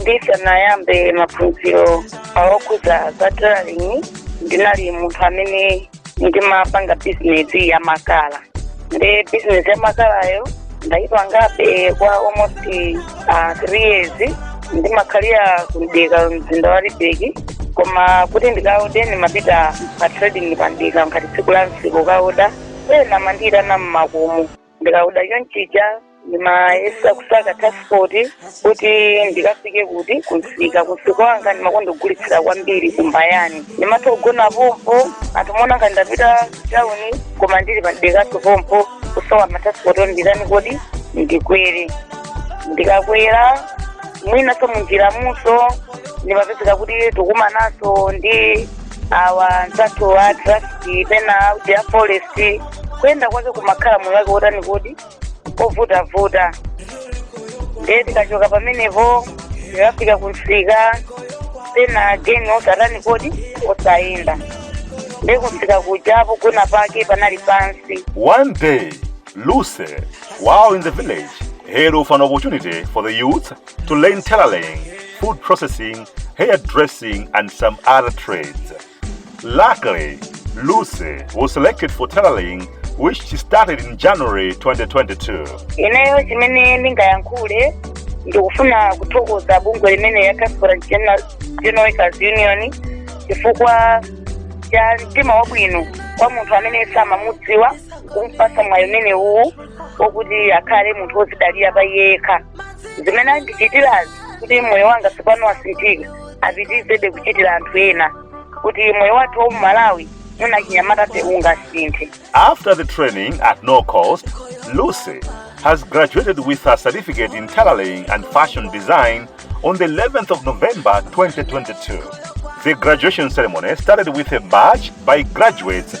ndisanayambe maphunziro awokhudza za tailoring ndinali munthu amene ndimapanga bizinesi ya makala ndi bizinesi ya makalayo ndayipangabe kwa almost uh, three years ndimakhalira ku Mdeka mzinda wa libeki koma kuti ndikaode ndimapita pa trading pa Mdeka ngati tsiku la msiku kukaoda ena amandiyitana mmakomo ndikaoda chonchija ndimayesa kusaka transport kuti ndikafike kuti kumsika kumsika wanga ndimakonda kugulitsira kwambiri ku Mbayani ndimatha kugona pompo anthu amaona ngati ndapita tauni koma ndili pa Mdekaso pompo kusowa matransport onditani kodi ndikwere ndikakwera mwinaso munjira mujaso ndimapezeka kuti tikumananso ndi awa anzathu wa trafiki pena a uti ya forest kuyenda kwake kumakhala moyo wake wotani kodi ovutavuta ndiye ndikachoka pamenepo ndikafika kumsika pena geni osatani kodi osayenda ndiye kumsika kuja pogona pake panali pansi One day, Lucy, while in the village, heard of an opportunity for the youth to learn tailoring, food processing, hairdressing, and some other trades. Luckily, Lucy was selected for tailoring, which she started in January 2022. ineyo chimene ndingayankhule ndikufuna kuthokoza bungwe limene ya Transport and General Workers union chifukwa cha mtima wabwino kwa munthu amene samamudziwa kumpasa mwayi umene uwu wokuti akhale munthu wozidalira pa iye yekha zimene andichitirazi kuti moyo wanga tsopano wasinthika apitirizebe kuchitira anthu ena kuti moyo wathu wa m'Malawi muno achinyamatafe ungasinthe After the training at no cost, Lucy has graduated with a certificate in tailoring and fashion design on the 11th of November 2022. The graduation ceremony started with a march by graduates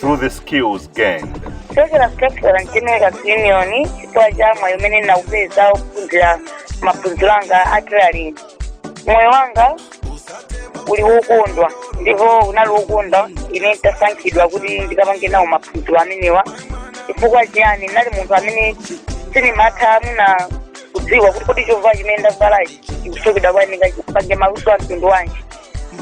through the skills gained. Transport and General union chifukwa cha mwayi umene ndinawupeza kuphunzira maphunziro anga a tailoring moyo wanga uli wokondwa ndipo unali wokondwa mmene nditasankhidwa kuti ndikapange nawo maphunziro amenewa chifukwa chiyani ndinali munthu amene sindimatha mwina kudziwa kuti kodi chovala chimene ndavalachi chikuchokera kuti ndingachipange maluso a mtundu wanji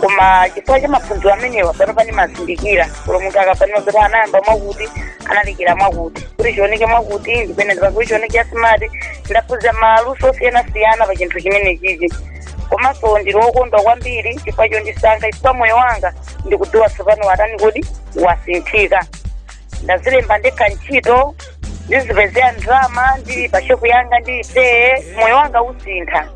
koma chifukwa cha maphunziro amenewa pano ndimazindikira kuti munthu akapanima kuti anayamba mwakuti analekera mwakuti kuti chioneke mwakuti ndipene ndipakuli chioneke smart ndaphunzira maluso osiyanasiyana pa chinthu chimenechichi komanso ndili wokondwa kwambiri chifukwa chondisankha chifukwa moyo wanga ndikudziwa tsopano watani kodi wasinthika ndadzilemba ndekha ntchito ndizipezera ndalama ndili pa shopu yanga ndili phee moyo wanga usintha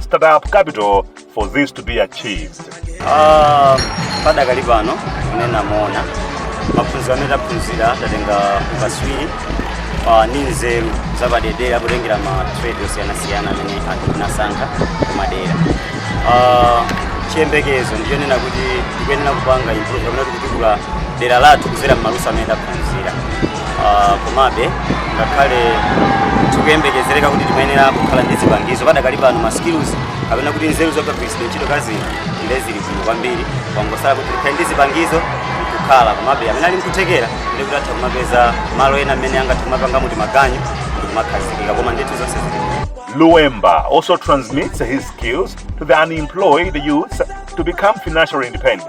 startup capital for this to be achieved. Ah, padakali pano kunena moona maphunziro amene taphunzira tatenga ukaswiri ah, ndi nzeru zapadedera potengera ma trade osiyanasiyana amene anthu tinasankha kumadera Ah, chiyembekezo ndichonena kuti tikuyenera kupanga improve kapena kutukula dera lathu kudzera m'maluso amene taphunzira Ah, komabe ngakhale tikuyembekezereka kuti timayenera kukhala ndi zipangizo padakali pano ma skills kapena kuti nzeru zokagwiritsidwa ntchito kazi nde zili bwino kwambiri kwangosala kuti tikhale ndi zipangizo kukhala komabe amene ali mkuthekera nde kuti atha kumapeza malo ena amene angathe kumapanga muti maganyu ndi kumakhazikika koma ndithu zonse zili bwino. Luemba also transmits his skills to the unemployed youths to become financially independent.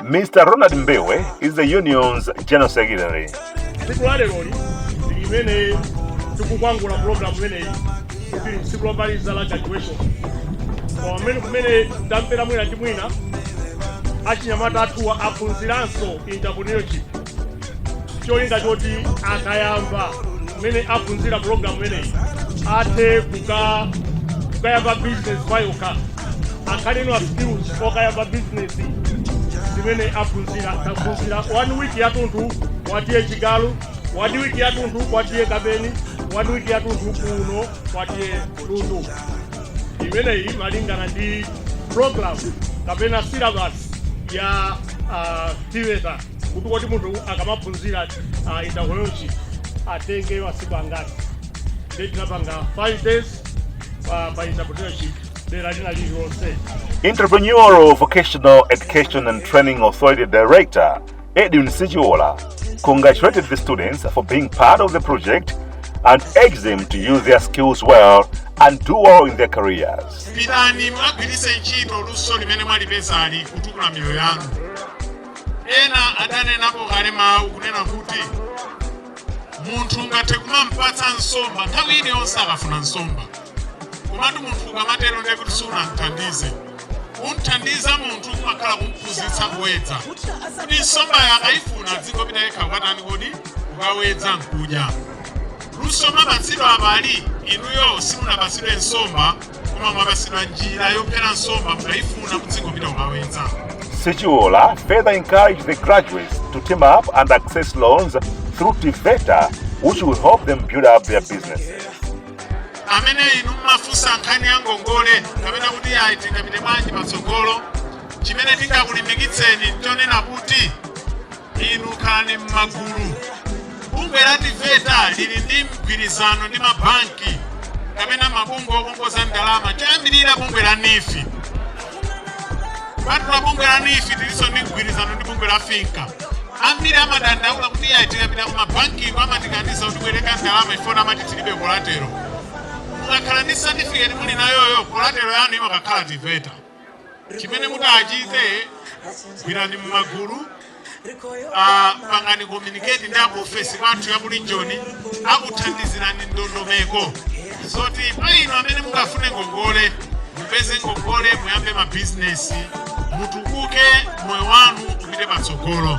Mr. Ronald Mbewe is the union's general secretary. tsiku la leroli ndi limene tikukwangula program imeneyi kuti ndi tsiku lomaliza la graduation koma pamene kumene tathera mwina ndi mwina achinyamata athuwa aphunziranso entrepreneurship cholinga choti akayamba kumene aphunzira program imeneyi athe kuka kukayamba business payokha akhale ndi ma skills okayamba business zimene aphunzira aphunzira one week yatunthu kwa T/A Chigaru one week yatunthu kwa T/A Kapeni one week yatunthu kuno kwa T/A Lundu imeneyi malingana ndi program kapena syllabus ya uh, TEVETA kuti kodi munthu akamaphunzira uh, entrepreneurship atenge masiku angati nde tinapanga 5 days pa, pa entrepreneurship dera lina lililonse Entrepreneurial Vocational Education and Training Authority Director Edwin Sichiola congratulated the students for being part of the project and urged them to use their skills well and do well in their careers. pitani mukagwiritse ntchito luso limene mwalipezali kutukula miyoyo yanu ena adanenapo kale mawu kunena kuti munthu ungathe kumampatsa nsomba nthawi iliyonse akafuna nsomba komatu munthu ukamatero ndiye kuti sunamthandize kumthandiza munthu kumakhala kumphunzitsa kuwedza kuti nsombayo akayifuna adzingopita yekha kwatani kodi kukawedza nkudya luso mwapatsidwa apali inuyo simunapatsidwe nsomba koma mwapatsidwa njira yophera nsomba mukayifuna mudzingopita kukawedza Sichiola further encouraged the graduates to team up and access loans through TEVETA, which will help them build up their businesses. amene inu mmafunsa nkhani ya ngongole kapena kuti ayi tingapite bwanji patsogolo chimene tingakulimbikitseni nchonena kuti Inu khalani m'magulu. Bungwe la Tiveta lili ndi mgwirizano ndi mabanki kapena mabungwe okongoza ndalama choyambirira bungwe la NEEF kupatula bungwe la NEEF tilinso ndi mgwirizano ndi bungwe la FINCA ambiri amadandaula kuti iye tikapita ku mabankiko amatikaniza kubwereka ndalama chifukwa amati tilibe kolatero mukakhala ndi satifiketi muli nayoyo kolatero yanu ime kakhala tiveta chimene mutachite gwirani mmagulu ah, pangani communicate ndi akuofesi kwathu ya ku Region akuthandizirani ndondomeko zoti pa inu amene mungafune ngongole mupeze ngongole muyambe mabizinesi mutukuke moyo wanu upite patsogolo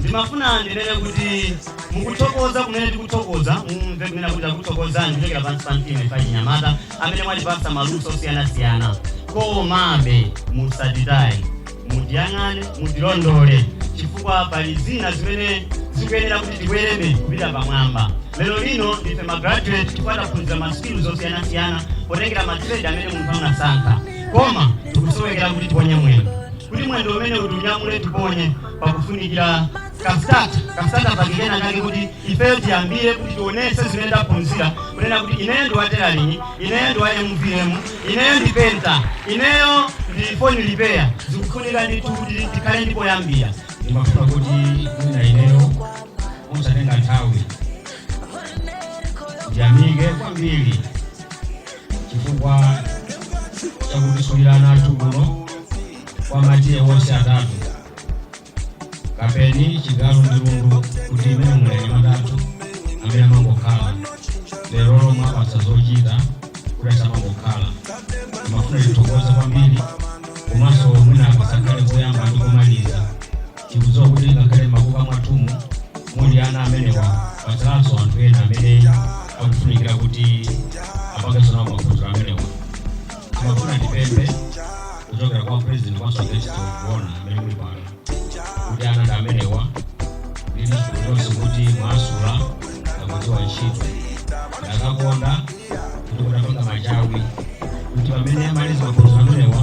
ndimafuna ndinene kuti mukuthokoza kunena tikuthokoza mumve kunena kuti takuthokozani kuchokera pansi pa mtima ife achinyamata amene mwatipatsa maluso osiyanasiyana komabe musatitaye mutiyang'ane mutilondole chifukwa pali zina zimene zikuyenera kuti tikwerebe kupita pamwamba lero lino ndife magraduate ti kuti taphunzira maskilz osiyanasiyana potengera matrade amene munthu anasankha koma tikusowekera kuti tiponye mwendo kuti mwendo umene utiunyamule tiponye pakufunikira kasitata kasitata package kake kuti ifeyo tiyambire kuti tionese zimene taphunzira kunena kuti ineyo ndi wa tailoring ineyo ndi wa mvm ineyo ndi penta ineyo ndi phone repair zikufunika ndithu kuti tikhale ndi poyambira ndimafuna kuti mwina ineyo ndisatenge nthawi ndiyamike kwambiri chifukwa chakutisulira ana athu kuno kwa matiye onse atatu kapeni chigalu ndi lundu kuti imene muliri ana athu amene amangokhala lero mwawapatsa zochita kuti asamangokhala ndimafuna tithokoze kwambiri komanso mwina akasakhale koyamba ndi komaliza tikudziwa kuti ngakhale mmakuka mwathumu muli ana amenewa patsalanso anthu ena amene akufunikira kuti apangenso nawo maphunziro amenewa timafuna tipemphe kuchokera kwa president wa society kuona amene muli pano kuti ana ndi amenewa ndi zoonadi kuti mwasula akudziwa ntchito ndakakonda kuti kutapangidwa machawi kuti pamene amaliza maphunziro amenewa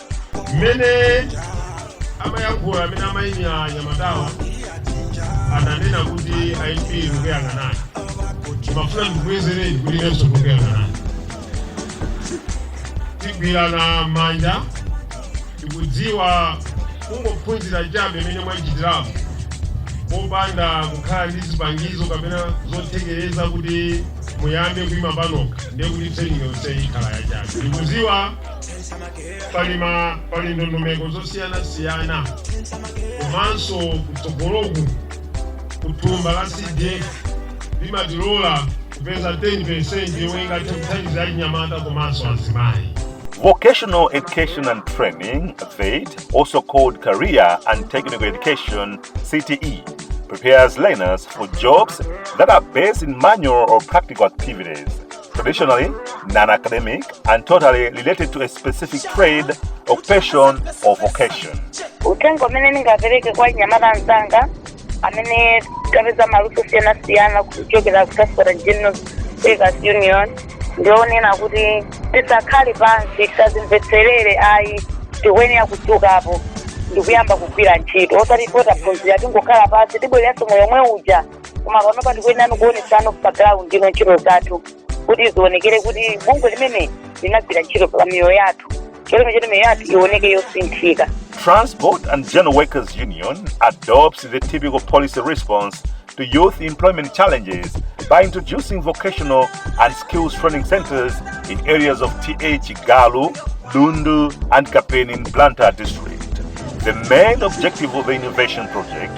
mmene amayankhula amene amayimira anyamatawa ananena kuti ip ndikuyang'anani ndimafuna ndikubwezereni kuti inenso ndikuyang'anani tigwirana manja tikudziwa kungophunzira chabe imene mwachitirapo popanda kukhala ndi zipangizo kapena zothekereza kuti muyambe kuyima panokha ndiye kuti training yonse ikhala yachabe ndikudziwa pali ndondomeko zosiyanasiyana komanso kutsogoloku kuthumba la CDF limatilola kupeza 10 yomwe ingathe kuthandiza achinyamata komanso azimayi Vocational Education and Training, VET, also called Career and Technical Education, CTE, prepares learners for jobs that are based in manual or practical activities. traditionally non-academic and totally related to a specific trade, occupation, or vocation. uthenga umene ndingapereke kwa anyamata anzanga amene tapeza maluso osiyanasiyana kuchokera ku Transport and General Workers Union ndi wonena kuti tisakhale pansi tisadzimvetserere ayi tikuyenera kudzukapo ndikuyamba kugwira ntchito osati poti taphunzira tingokhala pansi tibwereranso moyo omwe uja koma panopa tikuyenera kuonetsano pa ground ino ntchito zathu kuti zionekere kuti bungwe limeneli linagwira ntchito pa miyoyo yathu cholinga choti miyoyo yathu ioneke yosinthika Transport and General Workers Union adopts the typical policy response to youth employment challenges by introducing vocational and skills training centers in areas of TA Chigalu, Lundu, and Kapeni in Blantyre district. The main objective of the innovation project